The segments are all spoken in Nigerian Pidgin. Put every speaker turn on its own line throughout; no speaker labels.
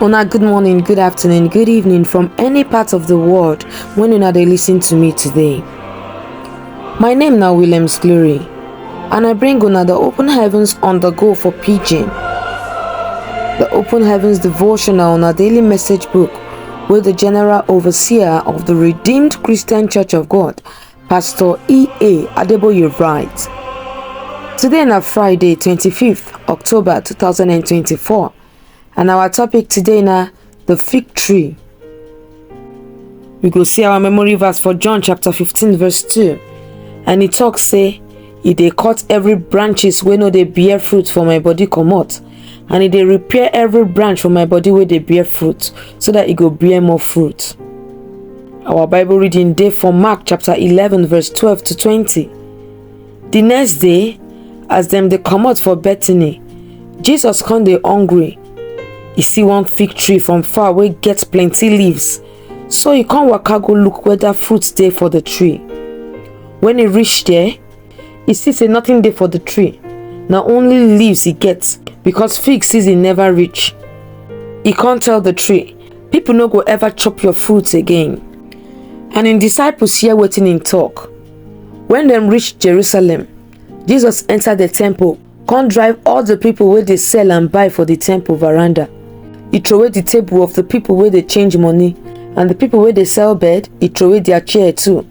Una good morning, good afternoon, good evening from any part of the world when una dey listen to me today. My name na Williams Glory and I bring una the open heavens on the go for pidgin. The open heavens devotional on a daily message book wey the general overseer of the Redeemed Christian Church of God, Pastor E.A. Adeboye writes, Today na Friday, 25th October 2024, and our topic today na the fig tree. We go see our memory verse for John chapter 15 verse 2, and e talk say, E dey cut every branches wey no dey bear fruit for my body comot, and e dey repair every branch for my body wey dey bear fruit so that e go bear more fruit our bible reading dey for mark chapter 11 verse 12 to 20 the next day as dem dey comot for bethany jesus come dey hungry e see one fig tree from far wey get plenty leaves so e come waka go look whether fruit dey for the tree when e reach there e see say nothing dey for the tree na only leaves e get because fig season never reach e come tell the tree people no go ever chop your fruits again and im disciples hear wetin im talk when dem reach jerusalem jesus enter the temple come drive all the people wey dey sell and buy for the temple veranda e throway the table of the people wey dey change money and the people wey dey sell bed e throway their chair too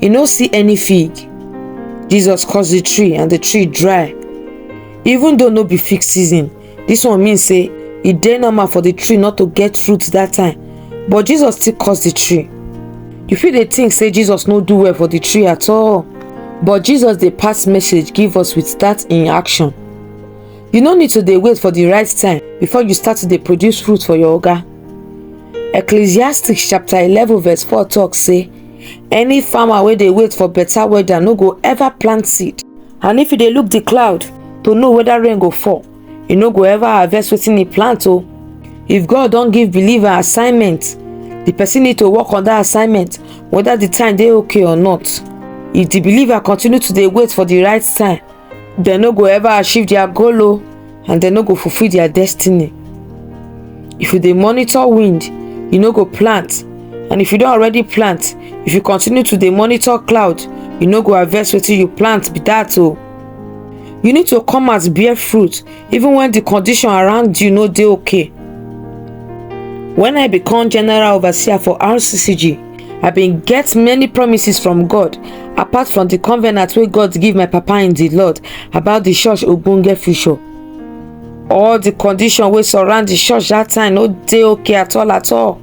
e no see any fig jesus curse the tree and the tree dry even though no be fig season this one mean say e dey normal for the tree not to get fruit that time but jesus still curse the tree you fit dey think say jesus no do well for the tree at all but jesus dey pass message give us with that in action you no need to dey wait for the right time before you start to dey produce fruit for your oga ecclesiastes chapter eleven verse four talk say any farmer wey dey wait for better weather no go ever plant seed and if you dey look the cloud to know whether rain go fall you no go ever harvest wetin he plant o if god don give believer assignment the person need to work on that assignment whether the time dey okay or not if the believer continue to dey wait for the right time dem no go ever achieve their goal o and dem no go fulfil their destiny if you dey monitor wind you no go plant and if you don already plant if you continue to dey monitor cloud you no go harvest wetin you plant be that o you need to come out bear fruit even when the condition around you no dey okay when i become general overseer for rccg i bin get many promises from god apart from di covenant wey god give my papa in di lord about di church ogbonge future all di condition wey surround di church dat time no dey okay at all at all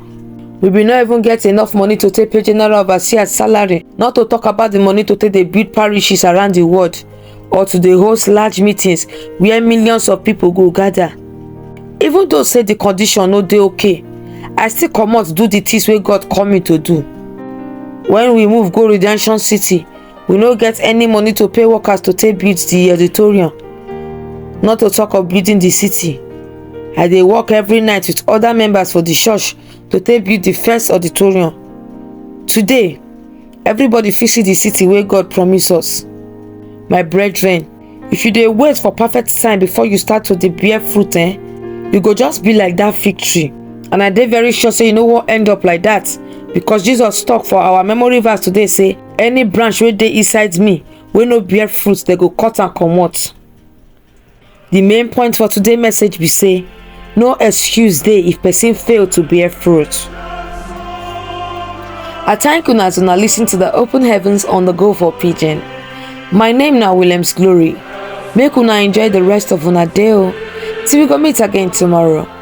we bin no even get enough money to take pay general overseer salary not to talk about di money to take dey build parishes around di world or to dey host large meetings where millions of people go gather even though say the condition no dey okay i still comot do the things wey god call me to do when we move go redemption city we no get any money to pay workers to take build the auditorium not to talk of building the city i dey work every night with other members for the church to take build the first auditorium today Everybody fit see the city wey God promise us. My brethren, if you dey wait for perfect time before you start to dey bear fruit eh, you go just be like that fig tree. And I dey very sure say you no wan end up like that because Jesus talk for our memory verse today say, any branch wey dey inside me wey no bear fruit, they go cut am comot. The main point for today's message be say, no excuse dey if person fail to bear fruit. I thank una as una listen to the Open Heavens on the Go for Pigeon. My name na Williams Glory. Make una enjoy the rest of una day o. Till we go meet again tomorrow.